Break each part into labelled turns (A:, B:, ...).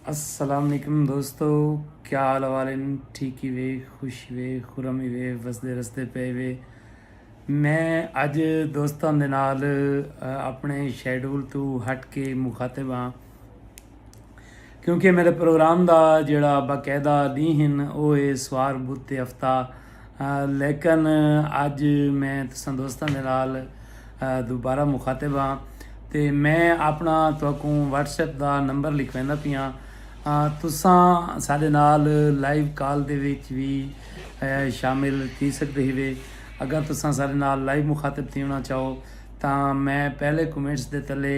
A: السلام علیکم دوستو کیا حال والن ٹھیکی وے خوشی وے خرمی وے وسدے رستے پے وے میں اج دوستاں دے نال اپنے شیڈول تو ہٹ کے مخاطب ہاں کیونکہ میݙے پروگرام دا جیڑھا باقاعدہ ݙینہہ ہن او ہے سوار بدھ تے ہفتہ لیکن اڄ میں تساں دوستاں دے نال دوبارہ مخاطب ہاں تے میں اپݨا تہاکوں واٹس ایپ دا نمبر لکھویندا پیاں تساں ساݙے نال لائیو کال دے وچ وی شامل تھی سڳدے ہیوے اگر تساں ساݙے نال لائیو مخاطب تھیوݨا چاہو تاں میں پہلے کمنٹس دے تلے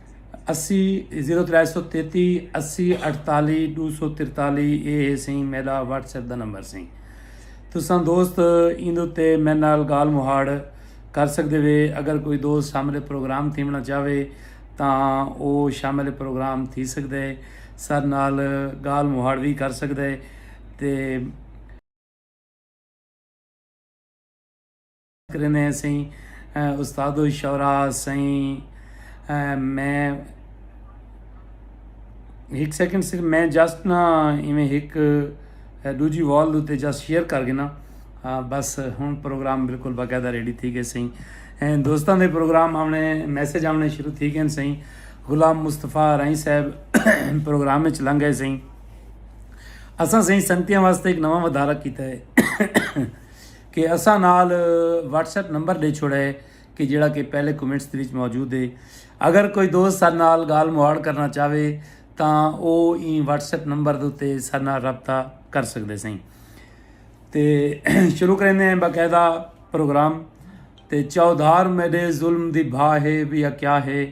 A: اسی زیرو ترے سو تیتی اسی اٹھتالی ڈو سو ترتالی اے اے سی میرا واٹس ایپ دا نمبر سی تساں دوست ایندو تے میں نال گال مہاڑ کر سکتے وے اگر کوئی دوست شامل پروگرام تھیونا چاہوے تاں او شامل پروگرام تھی سکتا ہے سر نال گال مہاڑ بھی کر سکتا ہے تے کریندے ہیں سئیں استاد و شعرا سئیں میں ہک سیکنڈ صرف میں جسٹ نا ایویں ہک دوجی وال دوتے جسٹ شیئر کر گنا بس ہن پروگرام بالکل باقاعدہ ریڈی تھی گئے سئیں دوستاں دے پروگرام آونے میسج آونے شروع تھی گئے سئیں غلام مصطفیٰ رائی صاحب پروگرام وچ لنگ گئے سئیں اساں سئیں سنگتیاں واسطے ایک نواں ودارہ کیتا ہے کہ اساں نال واٹس ایپ نمبر ڈے چھوڑا ہے کہ جیڑا کہ پہلے کمنٹس دے وچ موجود ہے اگر کوئی دوست سارے نال گال مہاڑ کرنا چاہوے تاں او ایں واٹس ایپ نمبر دے تے سارے نال رابطہ کر سکدے سیں تے شروع کریندے ہیں باقاعدہ پروگرام تے چودھار میڈے ظلم دی بھا ہے یا کیا ہے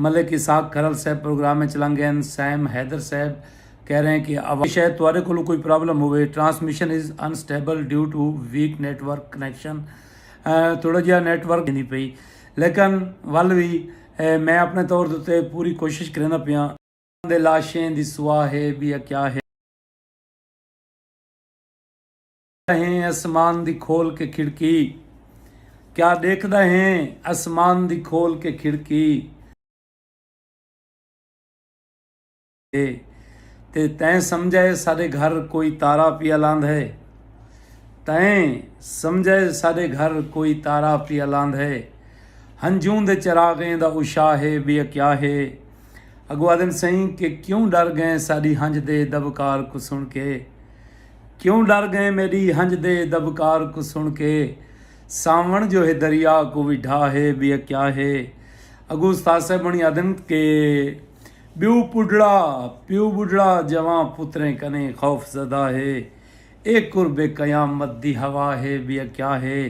A: ملک اسحاق کھرل صاحب پروگرام اچ لنگ گئن، سیم حیدر صاحب کہہ رہے کہ عوام شاید تہاڈے کولوں کوئی پرابلم ہووے، transmission is unstable due to weak network connection, تھوڑا جیہا نیٹ ورک تھیندی پئی لیکن ول وی میں اپنے طور دے اتے پوری کوشش کریندا پیاں۔ انہاں دے لاشیں دی سوا ہے، ٻیا کیا ہے۔ ڈیکھدا ہیں اسمان دی کھول کے کھڑکی کیا ڈیکھدا ہیں اسمان دی کھول کے کھڑکی تے تیں سمجھے ساڈے گھر کوئی تارا پیا لاند ہے تیں سمجھے ساڈے گھر کوئی تارا پیا لاند ہے ہنجوں دے چراغیں دا اشا ہے بیا کیا ہے اگو آدن سئیں کہ کیوں ڈر گئیں ساڈی ہنج دے دبکار کو سن کے کیوں ڈر گئیں میڈی ہنج دے دبکار کوں سن کے ساون جو ہے دریا کوں وی ڈھا ہے بیا کیا ہے اگوں استاد صاحب ہونی آدھن کے بیو پڈڑا پیو بڈڑا جوان پتریں کنے خوف زدہ ہے اے قرب قیامت دی ہوا ہے بیا کیا ہے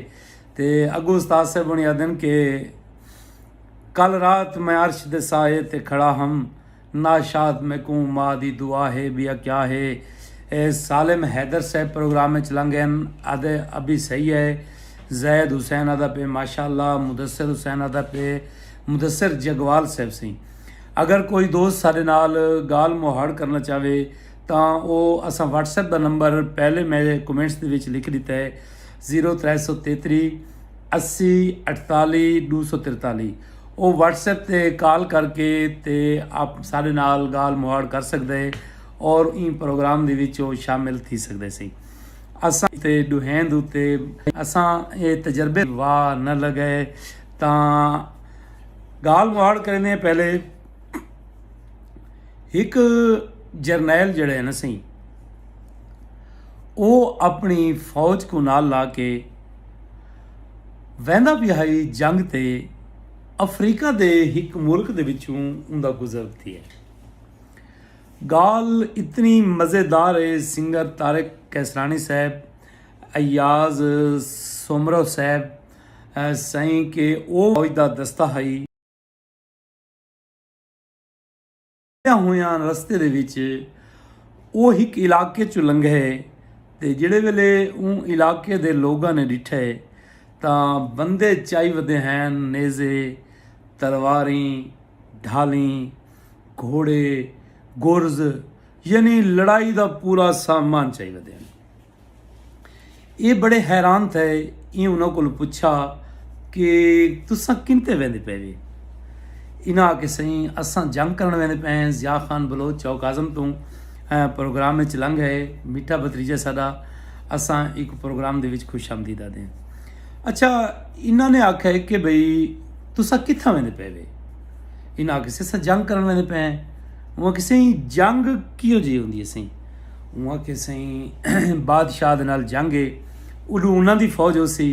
A: تے اگوں استاد صاحب ہونی آدھن کے کل رات میں عرش دے سائے تے کھڑا ہم ناشاد میکوں ماء دی دعا ہے بیا کیا ہے اے سالم حیدر صاحب پروگرام اچ لنگ ہن آدھے ابھی صحیح ہے زید حسین آدھا پے ماشاءاللہ مدثر حسین آدھا پے مدثر جگوال صاحب سئیں اگر کوئی دوست ساڈے نال گال مہاڑ کرنا چاہوے تاں او اساں واٹس ایپ دا نمبر پہلے میں کمنٹس دے وچ لکھ ڈتا ہے زیرو ترے سو تیتری اسی اٹھتالی ڈو سو ترتالی او واٹس ایپ تے کال کر کے تے آپ سارے نال گال مہاڑ کر سکدے اور این پروگرام دے وچ او شامل تھی سکدے سی اساں تے ڈوہین دے اتے اساں اے تجربے وا نہ لگے تاں گال مہاڑ کریندے پہلے ہک جرنیل جڑے نہ سی او اپنی فوج کو نال لا کے ویندا پیا ہئی جنگ تے افریقہ دے ہک ملک دے وچوں اوندا گزر تھیے گال اتنی مزیدار ہے سنگر طارق کیسرانی صاحب ایاز سومرو صاحب سائیں کہ او فوج دا دستہ ہئی لنگھدیاں ہویاں رستے دے وچ او ہک علاقے چوں لنگھے تے جیڑھے ویلے اوں علاقے دے لوگاں نے ڈٹھے تاں بندے چائی ودے ہن نیزے، تلواریں، ڈھالیں، گھوڑے، گرز یعنی لڑائی دا پورا سامان چائی ودے ہن۔ ایہ بڑے حیران تھئے ایں انہاں کولوں پچھا کہ تساں کنتے ویندے پئے وے انہاں آکھے سئیں اساں جنگ کرن ویندے پئے ہیں ضیاء خان بلوچ چوک اعظم توں پروگرام وچ لنگ ہے میٹھا بھتریجہ ساڈا اساں ایک پروگرام دے وچ خوش آمدید آدے ہیں اچھا انہاں نے آکھا ہے کہ بھئی تساں کتھاں ویندے پئے وے انہاں آکھے سئیں اساں جنگ کرن ویندے پئے ہیں انہاں آکھے سئیں جنگ کیوں جی ہوندی ہے سئیں اوں آکھے سئیں بادشاہ دے نال جنگ ہے اڈو انہاں دی فوج ہوسی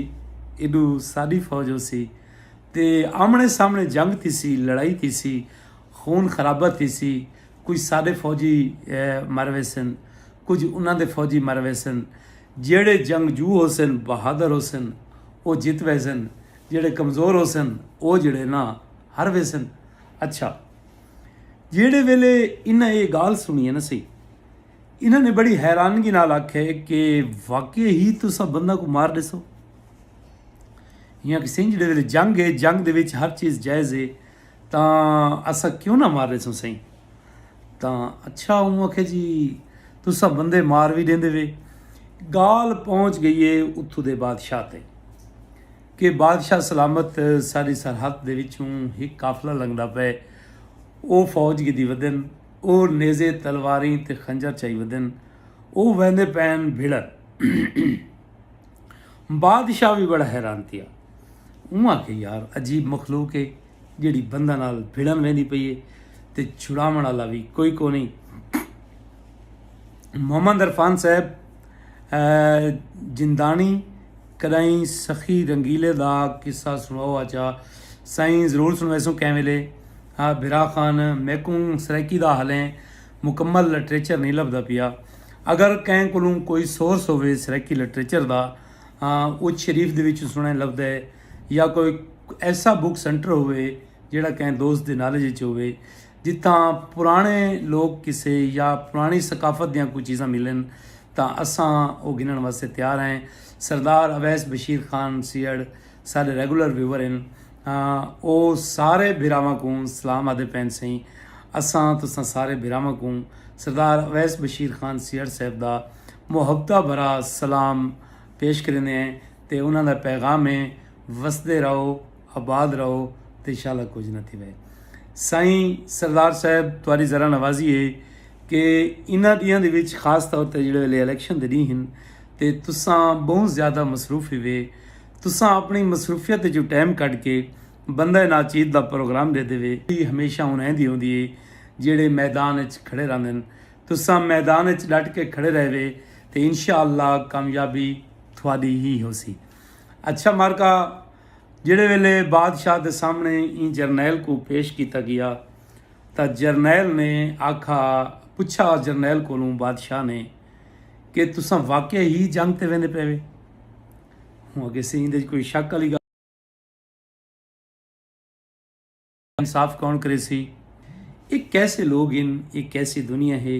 A: ایڈو ساڈی فوج ہوسی تے آمنے سامنے جنگ تھیسی لڑائی تھیسی خون خرابہ تھیسی کجھ ساڈے فوجی مر ویسن کجھ انہاں دے فوجی مر ویسن جیڑھے جنگجو ہوسن بہادر ہوسن او جت ویسن جیڑھے کمزور ہوسن او جیڑھے نا ہر ویسن اچھا جیڑھے ویلے انہاں ایہ گالھ سنڑی نہ سی انہاں نے بڑی حیرانگی نال آکھے کہ واقعی ہی تساں بندہ کوں مار ڈیسو انہاں آکھیا سئیں جیڑھے ویلے جنگ ہے جنگ دے وچ ہر چیز جائز ہے تاں اساں کیوں نہ مار ڈیسوں سئیں تاں اچھا انہاں آکھیا جی تساں بندے مار وی ڈیندے وے گالھ پہنچ گئی ہے اتھوں دے بادشاہ تے کہ بادشاہ سلامت ساری سرحد دے وچوں ہک قافلہ لنگھدا پئے او فوج گھدی ودن او نیزے تلواریں تے خنجر چائی ودن او ویندے پئن بھڑن بادشاہ وی بڑا حیران تھیا اوں آکھے یار عجیب مخلوق ہے جیڑی بندہ نال بھڑن ویندی پئی ہے تے چھڑاون والا وی کوئی کو نہیں محمد عرفان صاحب جندانی کݙائیں سخی رنگیلے دا قصہ سݨاؤ آچا سائیں ضرور سݨویسوں کہیں ویلے ہا بھرا خان میکوں سرائیکی دا ہلیں مکمل لٹریچر نئیں لبھدا پیا اگر کہیں کولوں کوئی سورس ہووے سرائیکی لٹریچر دا اچ شریف دے وچوں سݨیں لبھدے یا کوئی ایسا بک سینٹر ہووے جیڑھا کہیں دوست دے نالج اچ ہووے جتھاں پراݨے لوک قصے یا پراݨی ثقافت دیاں کوئی چیزاں ملن تاں اساں او گھنݨ واسطے تیار ہیں۔ سردار اویس بشیر خان سیہڑ ساݙے ریگولر ویور ہن تاں او سارے بھراواں کوں سلام آہدے پئن سئیں۔ اساں تساں سارے بھراواں کوں سردار اویس بشیر خان سیہڑ صاحب دا محبتاں بھرا سلام پیش کریندے ہیں تے انہاں دا پیغام ہے وسدے رہو آباد رہو تے انشاءاللہ کجھ نہ تھیوے۔ سائیں سردار صاحب تہاڈی ذرا نوازی ہے کہ انہاں ڈینہاں دے وچ خاص طور تے جیڑھے ویلے الیکشن دے ڈینہہ ہن تے تساں بہوں زیادہ مصروف ہیوے تساں اپنی مصروفیت وچوں ٹائم کڈھ کے بندہ ناچیز دا پروگرام ڈیندے وے۔ ڈی ہمیشہ ہن ایندی ہوندی ہے جیڑھے میدان وچ کھڑے رہندن تساں میدان وچ ڈٹ کے کھڑے رہیوے تے انشاءاللہ کامیابی تہاڈی ہی ہوسی۔ اچھا مارکا۔ جیڑھے ویلے بادشاہ دے سامنے ایں جرنیل کوں پیش کیتا گیا تاں جرنیل نے آکھا پچھا جرنیل کولوں بادشاہ نے کہ تساں واقع ہی جنگ تے ویندے پے وے ہوں اگے سے ایندے کوئی شک والی گل انصاف کون کرے سی یہ کیسے لوگ ہیں یہ کیسی دنیا ہے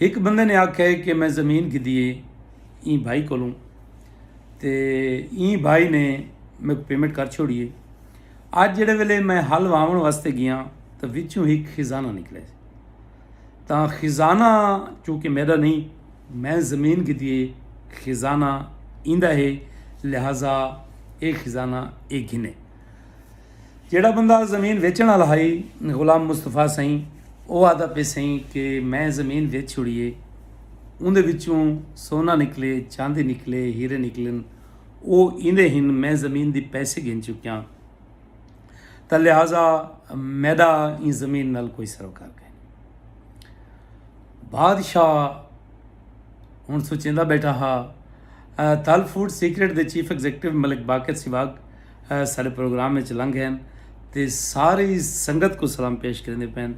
A: ہک بندے نے آکھیا ہے کہ میں زمین گھدی ہے ایں بھائی کولوں تے ایں بھائی نے میرے کو پیمنٹ کر چھوڑی ہے اج جڑے ویلے میں حل واون واسطے گیا تو وچوں ہک خزانہ نکلے تا خزانہ چونکہ میرا نہیں میں زمین گھدی ہے خزانہ ایندا ہے لہذا اے خزانہ اے گھنے جیڑھا بندہ زمین ویچن والا ہائی غلام مصطفی سائیں او آدا پے سائیں کہ میں زمین ویچ چھڑیے اوندے وچوں سونا نکلے چاندی نکلے ہیرے نکلن او ایندے ہن میں زمین دی پیسے گھن چکیاں تا لہذا میڈا این زمین نال کوئی سروکار کہیں بادشاہ ہݨ سوچیندا ٻیٹھا ہا تال فوڈ سیکرٹ دے چیف ایگزیکٹو ملک باقر سواگ سارے پروگرام وچ لنگ ہیں تے ساری سنگت کو سلام پیش کریندے پین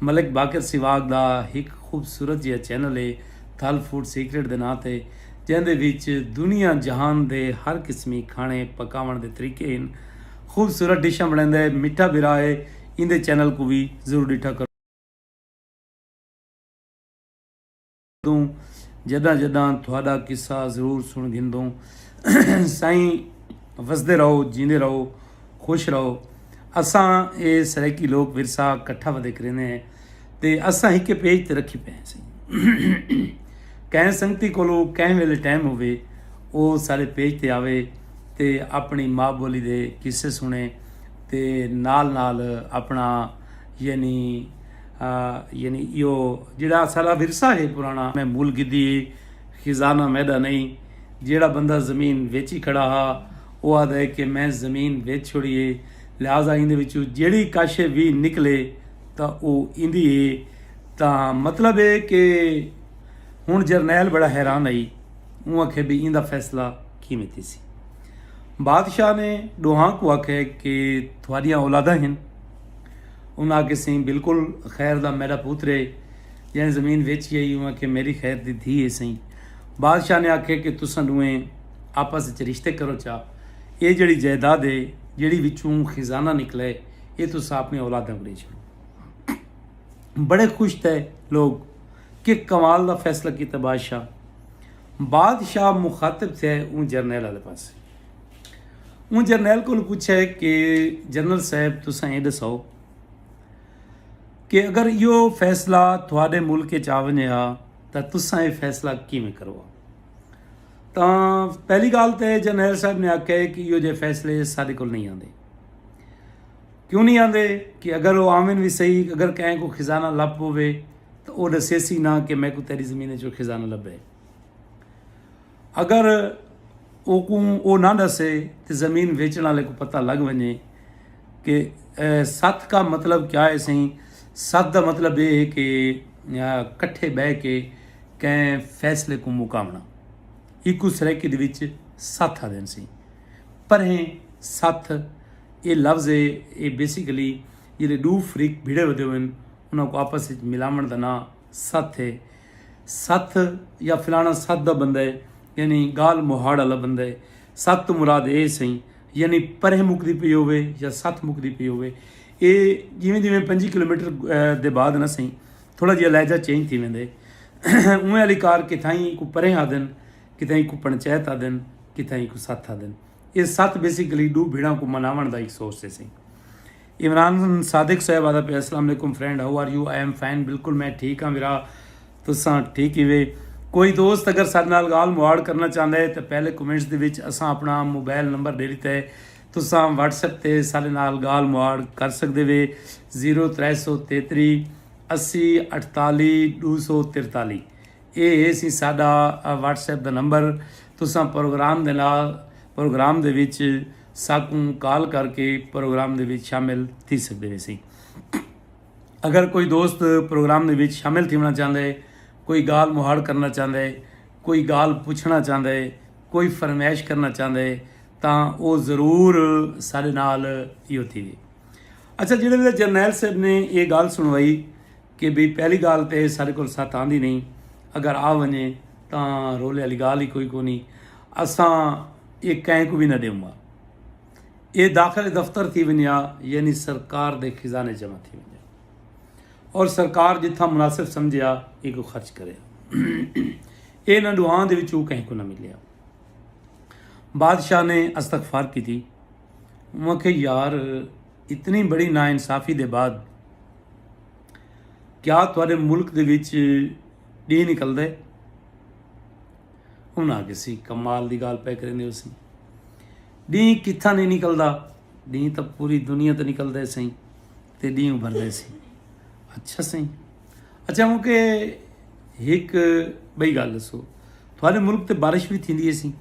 A: ملک باقر سواگ دا ہک خوبصورت جیا چینل ہے تال فوڈ سیکرٹ دے ناں تے جیندے وچ دنیا جہان دے ہر قسمی کھانے پکاون دے طریقے ہیں خوبصورت ڈشاں بنڑیندا ہے مٹھا بھرا ہے ایندے چینل کو بھی ضرور ڈٹھا کرو گھندوں جداں جداں تہاڈا قصہ ضرور سن گھندوں سائیں وسدے رہو جیندے رہو خوش رہو اساں اے سرائیکی لوک ورثہ کٹھا ودے کریندے ہیں تے اساں ہکے پیج تے رکھی پئے سائیں کہیں سنگتی کولو کہیں ویلے ٹائم ہوے او سارے پیج تے آوے تے اپنی ماں بولی دے قصے سنے تے نال نال اپنا یعنی یعنی ایو جیڑا اساڈا ورثہ ہے پرانا میں مول گدی ہے خزانہ میڈا نہیں جیڑا بندہ زمین ویچی کھڑا ہا او آدھا ہے کہ میں زمین ویچ چھوڑی ہے لہذا ایندے وچوں جیڑی کش وی نکلے تا او ایندی ہے تا مطلب ہے کہ ہن جرنیل بڑا حیران ہئی اوں آکھے بھی ایندا فیصلہ کیویں تھیسی بادشاہ نے ڈوہاں کو آکھے کہ تھوڑیاں اولاداں ہن انہاں آکھیا سئیں بالکل خیر دا میڈا پوتر ہے جئیں زمین ویچی ہئی اوہ آکھیا میری خیر دی دھی ہے سئیں بادشاہ نے آکھیا کہ تساں ڈوہیں آپس وچ رشتے کرو چا اے جڑی جائیداد ہے جڑی وچوں خزانہ نکلے اے تساں اپنی اولاداں کو دے چھڑو بڑے خوش تھے لوگ کہ کمال دا فیصلہ کیتا بادشاہ بادشاہ مخاطب تھے اون جرنیل والے پاسے اوں جرنیل کولوں پچھیا کہ جنرل صاحب تساں اے ڈساؤ کہ اگر ایہو فیصلہ تھوڑے ملک اچ آ ونجے ہا تاں تساں اے فیصلہ کیویں کرو ہا تاں پہلی گال تے جرنیل صاحب نے آکھیا کہ ایہو جے فیصلے ساڈے کول نہیں آندے کیوں نہیں آندے کہ اگر او آون وی صحیح اگر کہیں کو خزانہ لپ ہوے تو او ڈسیسی نہ کہ میں کو تیری زمین جو خزانہ لبے اگر اوکوں او نہ ݙسے تے زمین ویچݨ آلے کوں پتہ لڳ ونڄے کہ ست کا مطلب کیا ہے سئیں ست دا مطلب اے ہے کہ کٹھے ٻہہ کے کہیں فیصلے کوں مکاوݨا ایکوں سرائیکی دے وچ ست آہدن سئیں پرہیں ست اے لفظ اے اے بیسیکلی جیڑھے ݙو فریق بھیڑے ودے ہوئن انہاں کوں آپس وچ ملاوݨ دا ناں ست اے۔ ستھ یا فلانا ستھ دا بندہ ہے یعنی گالھ مہاڑ آلا بندہ ہے ستھ توں مراد اے سئیں یعنی پرہ مکدی پئی ہووے یا ستھ مکدی پئی ہووے اے جیویں جیویں پنجی کلومیٹر دے بعد نا سئیں تھوڑا جیہا لہجہ چینج تھی ویندے اوویں آلی کار کتھائیں کو پرہ آدن کتھائیں کو پنچایت آدن کتھائیں کو ستھ آدن اے ستھ بیسیکلی ڈو بھیڑاں کو مناون دا ایک سورس ہے سئیں عمران صادق صاحب آدا پیا السلام علیکم friend how are you I am fine بالکل میں ٹھیک ہاں ویرا تساں ٹھیک ہی وے کوئی دوست اگر سارے نال گال مواڑ کرنا چاہتا ہے تو پہلے کمنٹس دے وچ اساں اپنا موبائل نمبر دے دیتا ہے تساں واٹس ایپ تے سارے نال گال مواڑ کر سکتے وے زیرو ترے سو تیتری اسی اٹھتالی دو سو ترتالی اے ہے سی ساڈا واٹس ایپ دا نمبر تساں پروگرام دے نال پروگرام دے وچ ساکوں کال کر کے پروگرام دے وچ شامل تھی سکدے ویسی اگر کوئی دوست پروگرام دے وچ شامل تھیونا چاہندا ہے کوئی گال مہاڑ کرنا چاہندا ہے کوئی گال پوچھنا چاہندا ہے کوئی فرمائش کرنا چاہندا ہے تاں او ضرور سارے نال یہ ہوتی ہے اچھا جڑے ویلے جرنیل صاحب نے یہ گال سنوائی کہ بھی پہلی گال تے سارے کو ساتھ آندھی نہیں اگر آ ونجے تاں رولے والی گال ہی کوئی کونی اساں ایہ کہیں کوں وی نہ ڈیوں گا۔ ایہ داخلہ دفتر تھی ونجا یعنی سرکار دے خزانے جمع تھی ونجا اور سرکار جتھاں مناسب سمجھیا اینکوں خرچ کرے۔ ایناں ڈوہاں دے وچوں کہیں کوں نہ ملیا۔ بادشاہ نے استغفار کیتی۔ انہاں آکھیا یار اتنی بڑی ناانصافی دے بعد کیا تہاڈے ملک دے وچ ڈینہہ نکلدا ہے؟ انہاں آکھیا سی کمال دی گالھ پئے کریندے ہوسیں ڈینہہ کتھاں نہیں نکلدا ڈینہہ تاں پوری دنیا تے نکلدا ہے سائیں تے ڈینہہ ابھردا ہے سائیں اچھا سائیں اچھا ہوں کہ ہک بئی گالھ دسو تھوڑے ملک تے بارش بھی تھیندی ہے سائیں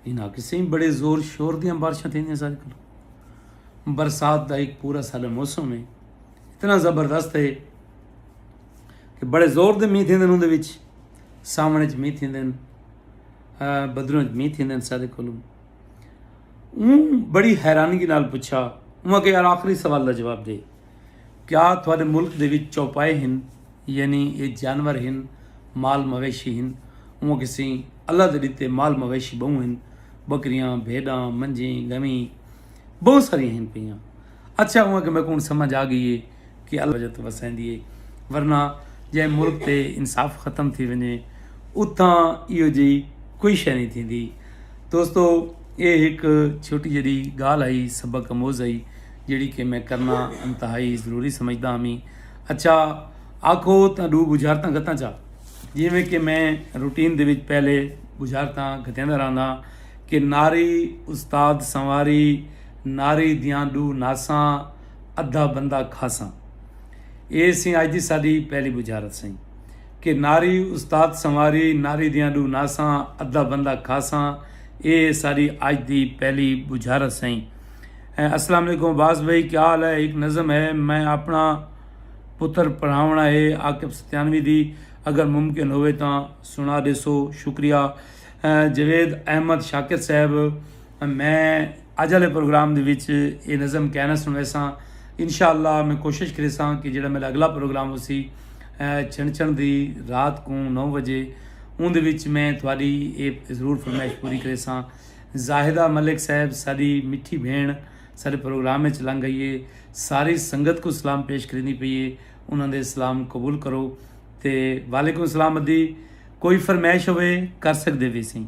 A: انہاں آکھیا سائیں بڑے زور شور دیاں بارشاں تھیندیاں سارے کلو برسات دا ایک پورا سال موسم ہے اتنا زبردست ہے کہ بڑے زور دے مینہ تھیندن اوندے وچ ساون وچ مینہ تھیندن بدروں وچ مینہ تھیندن سارے کولوں اون بڑی حیرانگی نال پوچھا اون کہ یار آخری سوال دا جواب دے کیا تھوڑے ملک دے وچ چوپائے ہن یعنی اے جانور ہن مال مویشی ہن اون کہ سی اللہ دے دیتے مال مویشی بہوں ہن بکریاں بھیڑاں منجیں گویں بہوں ساری ہن پیاں اچھا ہوں کہ میکوں سمجھ آ گئی ہے کہ اللہ وجہ تو وسیندی ہے ورنہ جے ملک تے انصاف ختم تھی ونجے اتھاں ایو جی کوئی شے نہیں تھیندی دوستو اے ایک چھوٹی جڑی گال آئی سبق اموز آئی جڑی کہ میں کرنا انتہائی ضروری سمجھدا ہاں میں اچھا آکھو تاں دو بجارتاں گھتاں چا جی میں کہ میں روٹین دے وچ پہلے بجارتاں گھتیاں دا رہنا کہ ناری استاد سنواری ناری دیاں ڈو ناساں ادھا بندہ کھاساں۔ اے سئیں اج دی ساڈی پہلی بجھارت سئیں کہ ناری استاد سنواری ناری دیاں ڈو ناساں ادھا بندہ کھاساں اے ساڈی اج دی پہلی بجھارت سئیں۔ السلام علیکم عباس بھائی کیا حال ہے ہک نظم ہے میں اپنا پتر پڑھاونڑاں ہے عاقب ستیانوی دی اگر ممکن ہووے تاں سنڑا ڈیسو شکریہ جاوید احمد شاکر صاحب۔ میں اج آلے پروگرام دے وچ اے نظم کائناں سنڑیساں۔ انشاءاللہ میں کوشش کریساں کہ جیڑا میڈا اگلا پروگرام ہوسی چھنچھن دی رات کوں نو وجے اون دے وچ میں تہاڈی اے ضرور فرمائش پوری کریساں۔ زاہدہ ملک صاحب ساڈی مٹھی بھینڑ ساڈے پروگرام وچ لنگ آئی اے۔ ساری سنگت کوں سلام پیش کریندی پئی اے۔ انہاں دے سلام قبول کرو۔ تے وعلیکم السلام ادی کوئی فرمائش ہووے کر سگدے ویسیں۔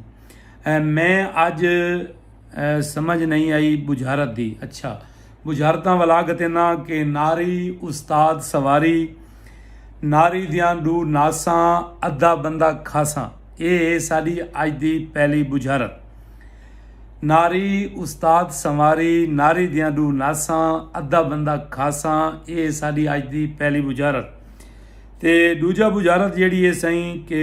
A: میں اج سمجھ نئیں آئی بجھارت دی۔ اچھا بجھارتاں ولا گھتینداں کہ ناری استاد سواری ناری دیاں ڈو ناساں ادھا بندہ کھاساں اے ہے ساڈی اج دی پہلی بجھارت ناری استاد سواری ناری دیاں ڈو ناساں ادھا بندہ کھاساں اے ہے ساڈی اج دی پہلی بجھارت تے ڈوجھا بجھارت جیڑھی ہے سئیں کہ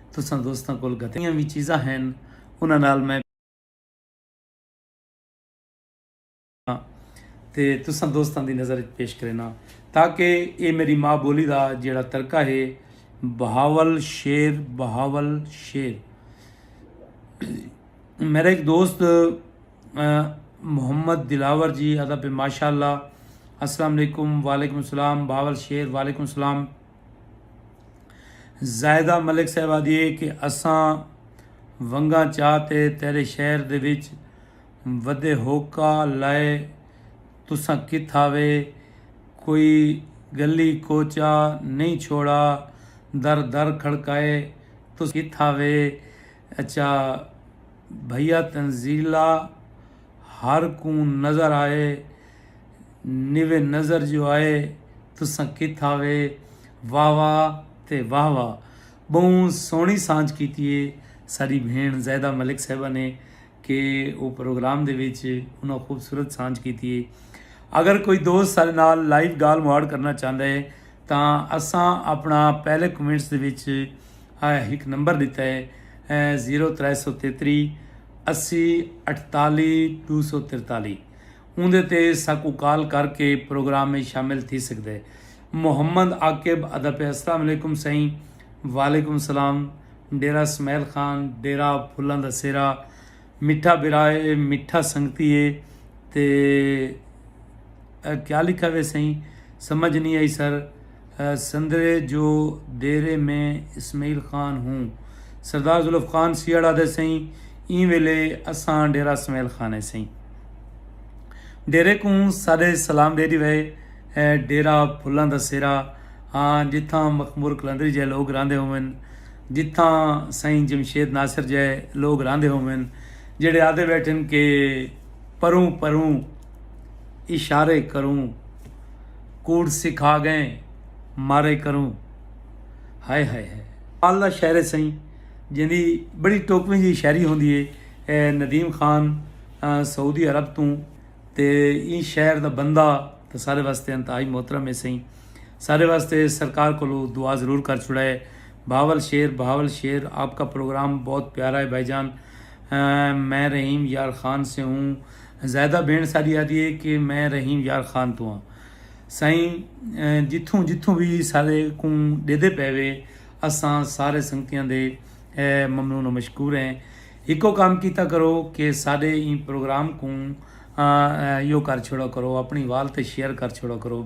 A: تساں دوستاں کول گھتیاں وی چیزاں ہن انہاں نال میں تے تساں دوستاں دی نظر وچ پیش کرینا تاکہ اے میری ماں بولی دا جیڑا ترکہ ہے بہاول شیر بہاول شیر میرا ایک دوست محمد دلاور جی ادا پہ ماشاء اللہ السلام علیکم وعلیکم السلام باول شیر وعلیکم السلام زاہدہ ملک صاحب آدھی ہے کہ اساں ونگاں چاہ تے تیرے شہر دے وچ ودے ہوکا لائے تساں کتھا وے کوئی گلی کوچہ نہیں چھوڑا در در کھڑکائے تساں کتھا وے اچھا بھیا تنزیلہ ہر کوں نظر آئے نوے نظر جو آئے تساں کتھا وے واہ واہ تے واہ واہ بہوں سوہنی سانجھ کیتی ہے ساڈی بھین زاہدہ ملک صاحبہ نے کہ او پروگرام دے وچ انہاں خوبصورت سانجھ کیتی ہے اگر کوئی دوست سارے نال لائیو گال مواڑ کرنا چاہتا ہے تاں اساں اپنا پہلے کمنٹس دے وچ ایک نمبر دیتا ہے زیرو ترے سو تیتری اسی اٹھتالی دو سو ترتالی اوندے تے ساکوں کال کر کے پروگرام اچ شامل تھی سگدے۔ محمد عاقب ادا پیا السلام علیکم سئیں وعلیکم السلام ڈیرہ سمیل خان ڈیرہ پھلاں دا سیرا مٹھا بھرا اے مٹھا سنگتی اے تے اے کیا لکھا وے سئیں سمجھ نی آئی سر۔ سندرے جو دیرے میں اسمعیل خان ہوں۔ سردار ذوالفقان سیہڑ آدھے سئیں ایں ویلے اساں ڈیرہ سمیل خانے سئیں۔ ڈیرے کوں ساڈے سلام ڈے ڈیوے۔ اے ڈیرہ پھلاں دا سیرا ہا جتھاں مخمور قلندری جئے لوگ راہندے ہوون۔ جتھاں سئیں جمشید ناصر جئے لوگ راہندے ہوون۔ جیڑھے آدھے بیٹھن کہ پروں پروں اشارے کروں۔ کوڑ سکھا گئیں مارے کروں ہائے ہائے ہائے۔ کمال دا شعر ہے سئیں جیندی بڑی ٹوکویں جیہی شاعری ہوندی ہے اے ندیم خان سعودی عرب توں تے ایں شہر دا بندہ تے سارے واسطے انتہائی محترم ہے سئیں سارے واسطے سرکار کولوں دعا ضرور کر چھوڑا ہے بہاول شیر بہاول شیر آپ کا پروگرام بہت پیارا ہے بھائی جان میں رحیم یار خان سے ہوں۔ زاہدہ بھیݨ ساݙی آہدی ہے کہ میں رحیم یار خان توں ہاں۔ سائیں جتھوں جتھوں وی ساݙے کوں ݙیہدے پئے وے اساں سارے سنگتیاں دے ممنون و مشکور ہیں۔ ہکو کم کیتا کرو کہ ساݙے ایں پروگرام کوں ایہو کر چھوڑا کرو اپݨی وال تے شیئر کر چھوڑا کرو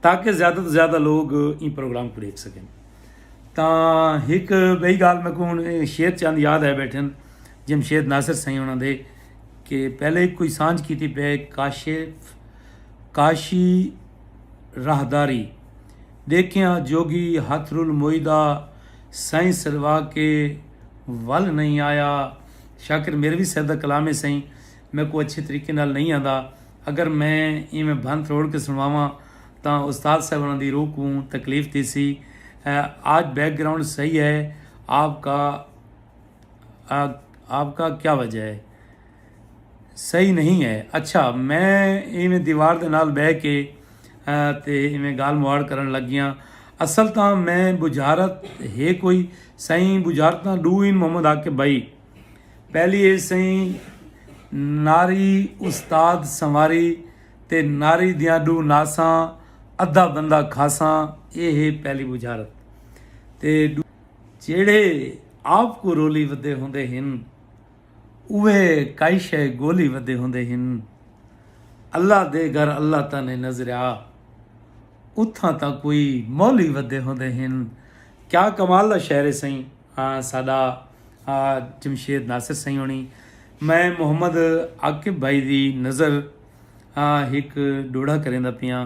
A: تاکہ زیادہ توں زیادہ لوگ ایں پروگرام کوں ݙیکھ سڳن۔ تاں ہک ٻئی ڳالھ میکوں ہݨ شیر چند یاد آئے ٻیٹھن جمشید ناصر سئیں انہاں دے کہ پہلے ہک کوئی سانجھ کیتی پئے کاشف کاشی راہداری ڈیکھیاں جوگی ہتھ رول موئیدا سئیں سروا کے ول نئیں آیا شاکر میروی صاحب دا کلام ہے سئیں میکوں اچھے طریقے نال نئیں آندا اگر میں ایویں بھن تروڑ کے سنواواں تاں استاد صاحب انہاں دی روح کوں تکلیف تھیسی آج بیک گراؤنڈ صحیح ہے آپ کا آپ کا کیا وجہ ہے صحیح نہیں ہے اچھا میں ایویں دیوار دے نال بہ کے تے ایویں گال مواڑ کرن لگ گیا اصل تاں میں بجارت ہے کوئی سائیں بجارت تاں ڈو ان محمد آ کے بھائی پہلی اے سائیں ناری استاد سنواری تے ناری دیاں ڈو ناساں ادھا بندہ کھاساں اے ہے پہلی بجارت تے جیڑھے آپ کوں رولی ودے ہوندے ہن اوہے کائی شے گولی ودے ہوندے ہن اللہ دے گھر اللہ تاں نئیں نظریا اتھاں تاں کوئی مولی ودے ہوندے ہن کیا کمال دا شعر ہے سائیں ہاں ساڈا جمشید ناصر سائیں ہونی میں محمد عاقب بھائی دی نظر ہک ڈوڑھا کریندا پیاں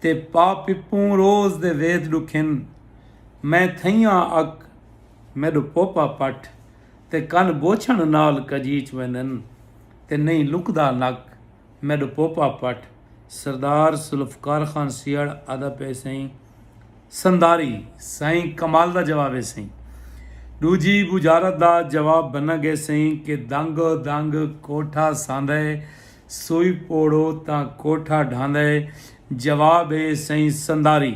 A: تے پا پپوں روز دے وید ڈکھن میں تھئیاں اک میڈو پوپا پٹھ تے کن بوچھن نال کجیچ ویندن تے نئیں لکدا نک میڈو پوپا پٹھ سردار ذوالفقار خان سیہڑ آہدا پئے سئیں سنداری سئیں کمال دا جواب اے سئیں ڈوجھی بجارت دا جواب بنگے سئیں کہ دنگ دنگ کوٹھا ساندھئے سوئی پوڑھو تاں کوٹھا ڈھاندا اے جواب اے سئیں سنداری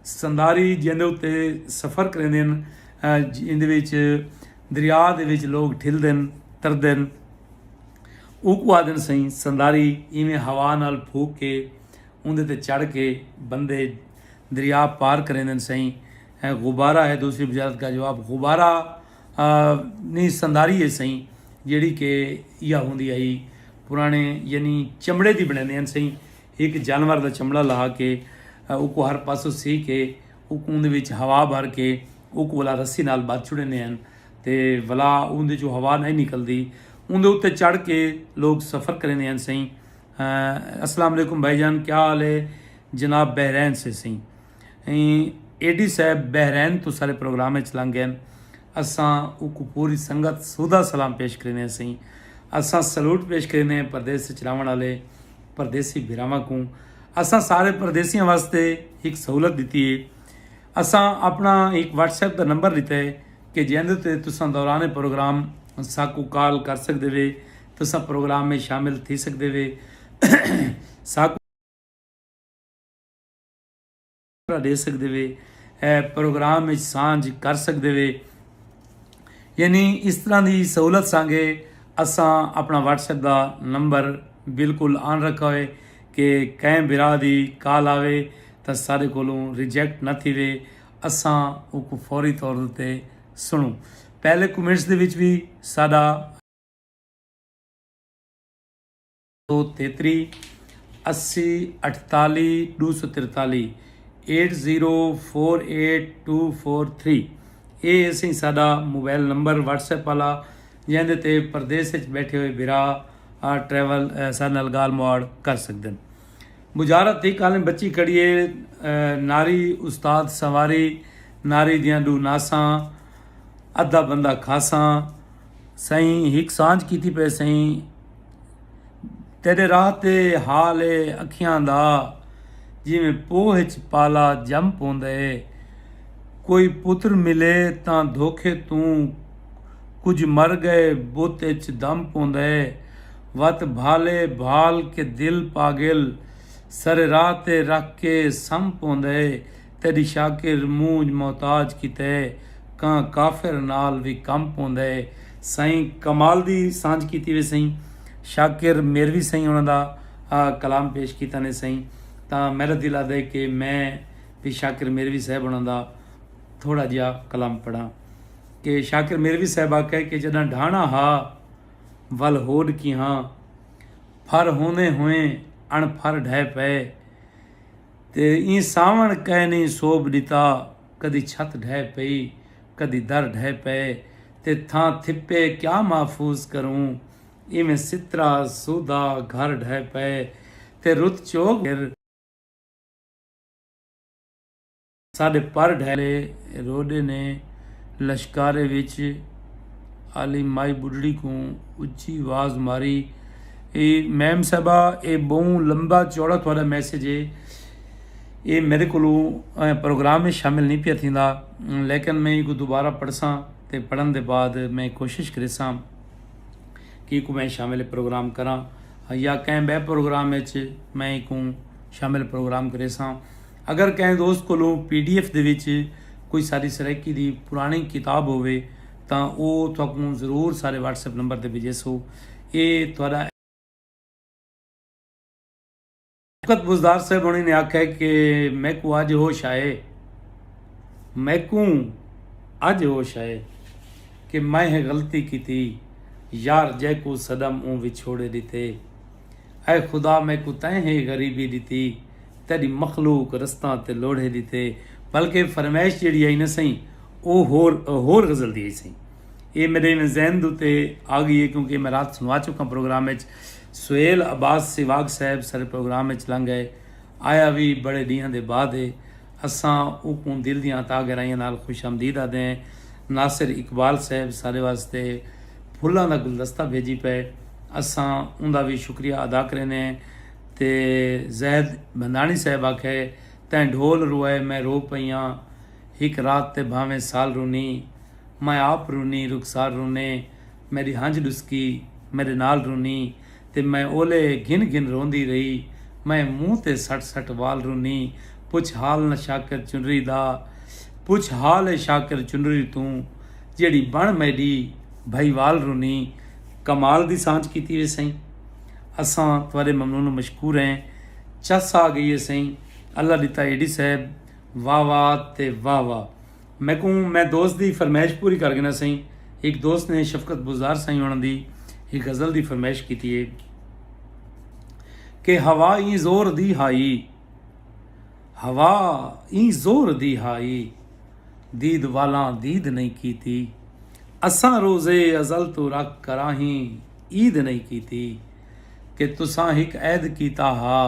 A: سنداری جیندے اتے سفر کریندن جیندے وچ دریا دے وچ لوگ ٹھلدن تردن اوکو آدن سئیں سنداری ایویں ہوا نال پھوک کے اوندے تے چڑھ کے بندے دریا پار کریندن سئیں غبارہ ہے دوسری بجارت کا جواب غبارہ نی سنداری ہے سئیں جیڑی کہ یا ہوندی ہئی پرانے یعنی چمڑے دی بنیندے ہیں سئیں ایک جانور دا چمڑا لا کے او کو ہر پاسو سی کے او کو اندے وچ ہوا بھر کے او کو ولا رسی نال بات چھڑے نے ہیں تے ولا اندے جو ہوا نہیں نکل دی اندے اتے چڑھ کے لوگ سفر کریں دے ہیں سئیں السلام علیکم بھائی جان کیا حال ہے جناب بحرین سے سئیں اے ڈی صاحب بحرین توں سارے پروگرام اچ لنگ گئن اساں اوکوں پوری سنگت سودھا سلام پیش کریندے ہسیں اساں سلوٹ پیش کریندے پردیس اچ راہونڑ آلے پردیسی بھراواں کوں اساں سارے پردیسیاں واسطے ہک سہولت ڈتی اے اساں اپنا ہک واٹس ایپ دا نمبر لیتا اے کہ جیندے تے تساں دوران پروگرام ساکوں کال کر سکدے وے تساں پروگرام میں شامل تھی سکدے وے ساکوں ݙے سڳدے وے اے پروگرام وچ سانجھ کر سڳدے وے یعنی اس طرح دی سہولت سانگے اساں اپݨا واٹس ایپ دا نمبر بالکل آن رکھا ہوئے کہ کہیں بھرا دی کال آوے تاں ساڈے کولوں ریجیکٹ نہ تھیوے اساں اوکوں فوری طور اتے سݨوں پہلے کمنٹس دے وچ وی ساڈا سو تیتری اسی اٹھتالی ڈو سو ترتالی eight zero four eight two four three اے اسی ساڈا موبائل نمبر واٹس ایپ والا جیندے تے پردیس وچ بیٹھے ہوئے برا آ ٹریول سارے نال گال مواڑ کر سکدن بجارت تھی کالیں بچی کڑیے ناری استاد سواری ناری دیاں ڈو ناساں ادھا بندہ کھاساں سائیں ہک سانج کیتی پہ سائیں تیݙے راہ تے حال اے اکھیاں دا جیویں پوہ اچ پالا ڄم پوندا اے کوئی پتر ملے تاں دھوکے توں کجھ مر ڳئے بت اچ دم پوندا اے وت بھالے بھال کے دل پاڳل سر راہ تے رکھ کے سم پوندا اے۔ تیݙی شاکر مونجھ محتاج کیتے کاں کافر نال وی کم پوندے سئیں کمال دی سانجھ کیتی وے سئیں شاکر میروی سئیں انہاں دا کلام پیش کیتا نے سئیں تاں میݙا دل آہدے کہ میں وی شاکر میروی صاحب انہاں دا تھوڑا جیا کلام پڑھاں کہ شاکر میروی صاحب آکھے کہ جݙاں ڈھاݨا ہا ول ہوݙ کیہاں پھر ہوندیں ہوئیں اݨ پھر ڈھے پئے تے ایں ساوݨ کئنی سوب ݙتا کدی چھت ڈھہ پئی کدی در ڈھہ پئے تے تھاں تھپے کیا محفوظ کروں ایویں سترا سودا گھر ڈھہ پئے تے رت چوگ گھر ساݙے پر ڈھہ لے روݙے نے لشکارے وچ آلی مائی ٻڈھڑی کوں اچی واز ماری اے میم صاحبہ اے بہوں لمبا چوڑا تہاڈا میسج ہے اے میرے کولو پروگرام وچ شامل نہیں پیا تھیندا لیکن میں ایکو دوبارہ پڑھساں تے پڑھن دے بعد میں کوشش کریساں کہ ایکو میں شامل پروگرام کراں یا کہیں بے پروگرام وچ میں ایکو شامل پروگرام کریساں اگر کہیں دوست کولو پی ڈی ایف دے وچ کوئی ساری سرائیکی دی پرانی کتاب ہووے تاں او تہاکوں ضرور سارے واٹس ایپ نمبر تے بھیجیسو اے تہاڈا شوکت بزدار صاحب ہونے نے آکھیا کہ میکوں اج ہوش آئے میکوں اج ہوش آئے کہ میں ہے غلطی کیتی یار جیکو صدم اون وچھوڑے ڈیتے اے خدا میکوں تیں ہے غریبی ڈیتی تیݙی مخلوق رستاں تے لوڑھے دی تھے بلکہ فرمائش جیڑھی آئی نہ سئیں او ہور ہور غزل دی ہئی سئیں اے میݙے ایویں ذہن اتے آگئی اے کیونکہ اے میں رات سݨوا چکاں پروگرام اچ سہیل عباس سیواگ صاحب سارے پروگرام اچ لنگ ڳئے آیا وی بڑے ݙینہاں دے بعد اے اساں اوکوں دل دیاں عطا گہرائیاں نال خوش آمدید آہدے ہیں ناصر اقبال صاحب سارے واسطے پھلاں دا گلدستہ بھیڄی پئے اساں اوندا وی شکریہ ادا کریندے ہیں۔ تے زید بھنداݨی صاحب آکھئے تیں ڈھول روئے میں رو پئی آں ہک رات تے بھانویں سال رونی میں آپ رونی رخسار رونے میݙی ہنج ݙسکی میݙے نال رونی تے میں اولے گھن گھن روندی رہی میں منہ تے سٹ سٹ وال رونی پچھ حال نہ شاکر چنری دا پچھ حال اے شاکر چنری توں جیڑھی بݨ میݙی بھائی وال رونی کمال دی سانجھ کیتی وے سئیں۔ اساں تہاݙے ممنون و مشکور ہیں۔ چس آ گئی ہے سئیں۔ اللہ ݙتا اے ڈی صاحب۔ واہ واہ تے واہ واہ۔ میکوں میں دوست دی فرمائش پوری کر گھناں سئیں۔ ہک دوست نے شفقت بزدار سائیں ہوݨاں دی ہک غزل دی فرمائش کیتی ہے۔ کہ ہوا ایں زور دی ہائی۔ ہوا ایں زور دی ہائی۔ دید والاں دید نئیں کیتی۔ اساں روزے ازل توں رکھ کراہیں۔ عید نئیں کیتی کہ تساں ہک عہد کیتا ہا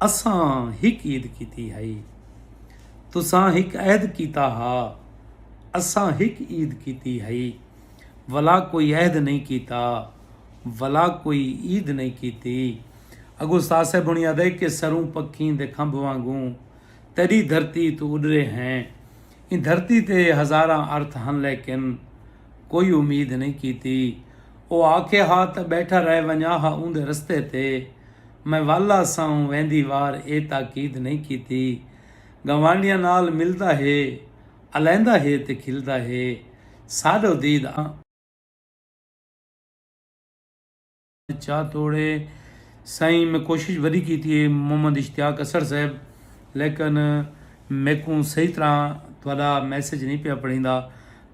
A: اساں ہک عید کیتی ہئی تساں ہک عہد کیتا ہا اساں ہک عید کیتی ہئی ولا کوئی عہد نئیں کیتا ولا کوئی عید نئیں کیتی اگو استاد صاحب ہونی آدھے کہ سروں پکھیں دے کھمب وانگوں تیڈی دھرتی تو اڈرے ہیں ایں دھرتی تے ہزاراں ارتھ ہن لیکن کوئی امید نئیں کیتی۔ او آکھیا ہا تاں ٻیٹھا رہ ونڄاں ہا اوندے رستے تے۔ میں والا ساوں ویندی وار اے تاکید نئیں کیتی۔ گنوانڈیاں نال ملدا ہے، الیندا ہے تے کھلدا ہے۔ ساݙو دید آں۔ چا توڑے سائیں میں کوشش وڈی کیتی ہے محمد اشتیاق اسر صاحب لیکن میکوں صحیح طرح تہاڈا میسج نہیں پیا پڑھیندا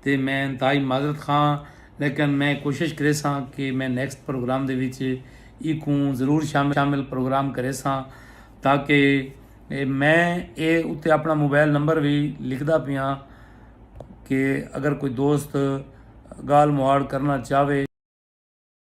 A: تے میں انتہائی معذرت خواہ ہاں لیکن میں کوشش کریساں کہ میں نیکسٹ پروگرام دے وچ ایکوں ضرور شامل پروگرام کریساں تاکہ میں اے اتے اپنا موبائل نمبر وی لکھدا پیاں کہ اگر کوئی دوست گال مہاڑ کرنا چاہوے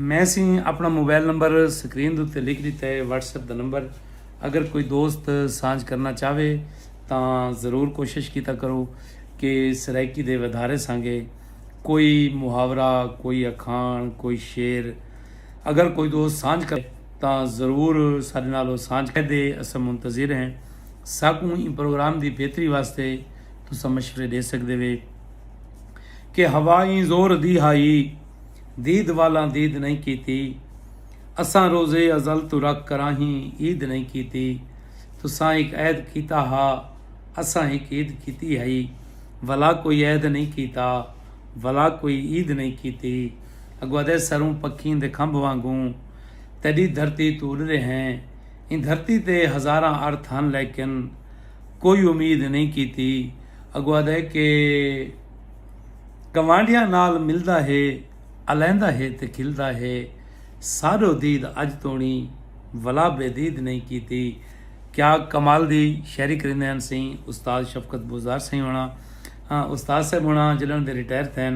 A: میں سی اپنا موبائل نمبر سکرین دے لکھ دیتا ہے واٹس ایپ دا نمبر اگر کوئی دوست سانج کرنا چاہے تو ضرور کوشش کیتا کرو کہ سرائیکی دے ودھارے سانگے کوئی محاورہ کوئی اکھان کوئی شعر اگر کوئی دوست سانج کرے تاں ضرور ساڈے نال او سانجھ کر دے اساں منتظر ہیں ساکوں ایں پروگرام دی بہتری واسطے تساں مشورے ڈے سکدے وے کہ ہوا ایں زور دی ہائی دید والاں دید نہیں کیتی اساں روزے ازل تو رکھ کراہیں عید نہیں کیتی تساں ہک عید کیتا ہا اساں ہک عید کیتی ہئی ولا کوئی عید نہیں کیتا ولا کوئی عید نہیں کیتی اگو ادے سروں پکھیں دے کھمب وانگوں تیݙی دھرتی توں اݙدے ہیں۔ ایں دھرتی تے ہزاراں ارتھ ہن لیکن کوئی امید نئیں کیتی۔ اڳوں آہدے کہ گوانڈیاں نال ملدا ہے، الیندا ہے تے کھلدا ہے۔ ساݙو دید اڄ توݨی ولا بے دید نئیں کیتی۔ کیا کمال دی شاعری کریندے ہن سئیں استاد شفقت بوزدار سئیں ہوݨاں۔ استاد صاحب ہوݨاں جݙݨ دے ریٹائر تھئن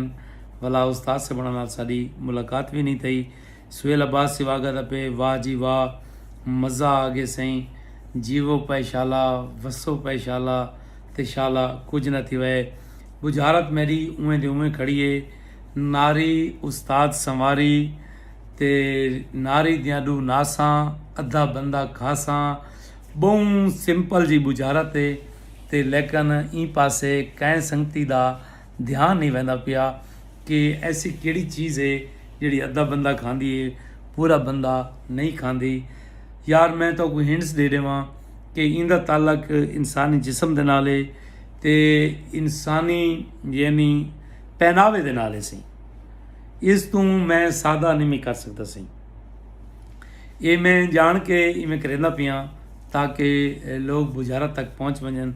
A: ولا استاد صاحب ہوݨاں نال ساݙی ملاقات وی نئیں تھئی۔ سہیل عباس سیو آگا دا پے واہ جی واہ مزہ آگے سئیں جیوو پئے شالا وسو پئے شالا تے شالا کجھ نہ تھیوئے بجھارت میڈی اوئیں دے اوئیں کھڑی اے ناری استاد سنواری تے ناری دیاں ڈو ناساں ادھا بندہ کھاساں بہوں سمپل جی بجھارت اے تے لیکن ایں پاسے کئیں سنگتی دا دھیان نئیں ویندا پیا کہ ایسی کیڑھی چیز ہے جیڑھی ادھا بندہ کھاندی ہے پورا بندہ نئیں کھاندی یار میں تو کوئی ہنٹس دے ڈیواں کہ ایندا تعلق انسانی جسم دے نال ہے تے انسانی یعنی پہناوے دے نال ہے سی اس تو میں سادہ نہیں میں کر سکتا سی یہ میں جان کے میں کریندا پیاں تاکہ لوگ بجارت تک پہنچ ونجن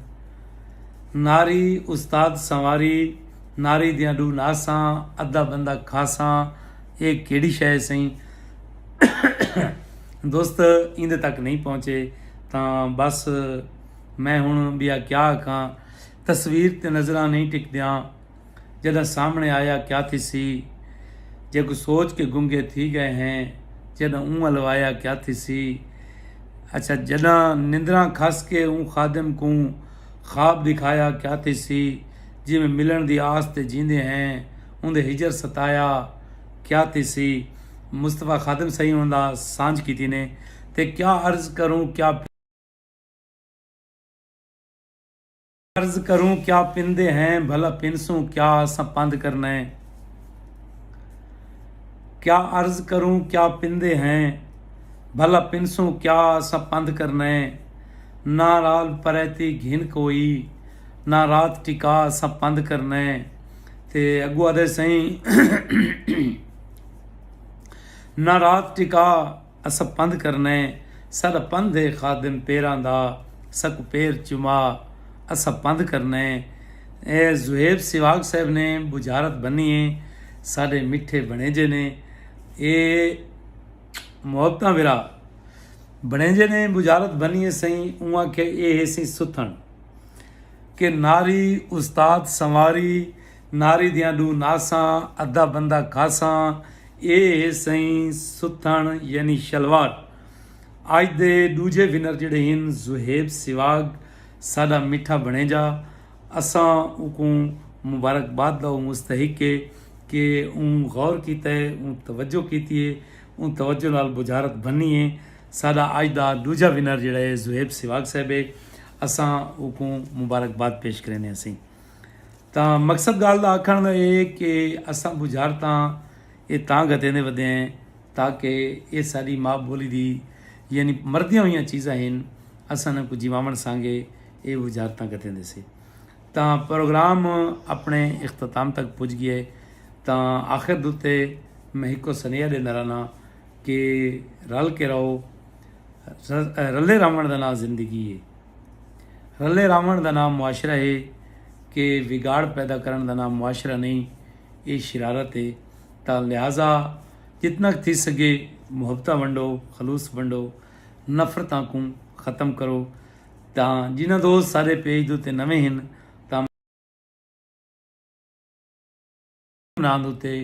A: ناری استاد سنواری ناری دیاں ڈو ناساں ادھا بندہ کھاساں اے کیڑی شے سئیں دوست ایندے تک نہیں پہنچے تاں بس میں ہن بیا کیا آکھاں تصویر تے نظراں نہیں ٹکدیاں جݙاں سامݨے آیا کیا تھیسی جے کوں سوچ کے گنگے تھی ڳئے ہیں جݙاں اوں ول وایا کیا تھیسی اچھا جݙاں نندراں کھس کے اوں خادم کوں خواب ݙکھایا کیا تھیسی جیویں ملݨ دی آس تے جیندے ہیں اوندے ہجر ستایا کیا تھیسی مصطفی خادم سئیں انہاں دا سانجھ کیتی نے تے کیا عرض کروں کیا عرض کروں کیا پندے ہیں بھلا پنسوں کیا اساں پند کرنے کیا عرض کروں کیا پندے ہیں بھلا پنسوں کیا اساں پند کرنے نہ رال پریتی گھن کوئی نہ رات ٹکا اساں پند کرنے تے اگو آدھے سائیں نہ رات ٹکا اساں پندھ کرنا ہے ساڈا پندھ ہے خادم پیراں دا ساکوں پیر چما اساں پندھ کرنا ہے اے زہیب سواگ صاحب نے بجھارت بنی ہے ساڈے مٹھے بنیجے نے اے محبتاں ورا بنیجے نے بجھارت بنی ہے سائیں اواں کہ اے ہے سی ستھن کہ ناری استاد سنواری ناری دیاں ݙو ناساں، ادھا بندہ کھاساں، اے ہے سئیں ستھݨ یعنی شلواٹ۔ اڄ دے ݙوجھے ونر جیڑھے ہن زوہیب سواڳ ساݙا مٹھا بݨیجا۔ اساں اونکوں مبارکباد دا او مستحق ہے کہ اوں غور کیتا ہے، اوں توجہ کیتی ہے، اوں توجہ نال بجھارت بھنی ہے۔ ساݙا اڄ دا ݙوجھا ونر جیڑھا ہے زوہیب سواڳ صاحب ہے۔ اساں اونکوں مبارکباد پیش کریندے ہسیں۔ تاں مقصد گالھ دا آکھنڑ دا اے کہ اساں بجارتاں اے تاں گھتیندے ودے ہیں تاکہ اے ساڈی ماء بولی دی یعنی مردیاں ہویاں چیزاں ہن اساں انہاں کوں جیواونڑ سانگے اے بجارتاں گھتیندے سے۔ تاں پروگرام اپنڑے اختتام تک پج گئے تاں آخر دوتے میں ہکو سنیہا ڈیندا رہنا کہ رل کے رہو رلے رہونڑ دا ناں زندگی اے۔ رلے راونڑ دا ناں معاشرہ ہے کہ وگاڑ پیدا کرنڑ دا ناں معاشرہ نہیں اے شرارت ہے تاں لہذا جتنا ک تھی سگے محبتاں ونڈو خلوص ونڈو نفرتاں کوں ختم کرو تاں جنہاں دوست سارے پیج دے تے نویں ہن انہاں دے اتے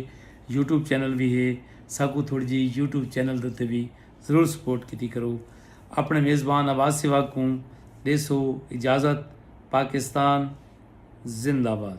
A: یوٹیوب چینل وی ہے ساکوں تھوڑی جی یوٹیوب چینل دے اتے وی ضرور سپورٹ کیتی کرو اپنے میزبان آواز سیوا کوں ڈیسو اجازت پاکستان زندہ باد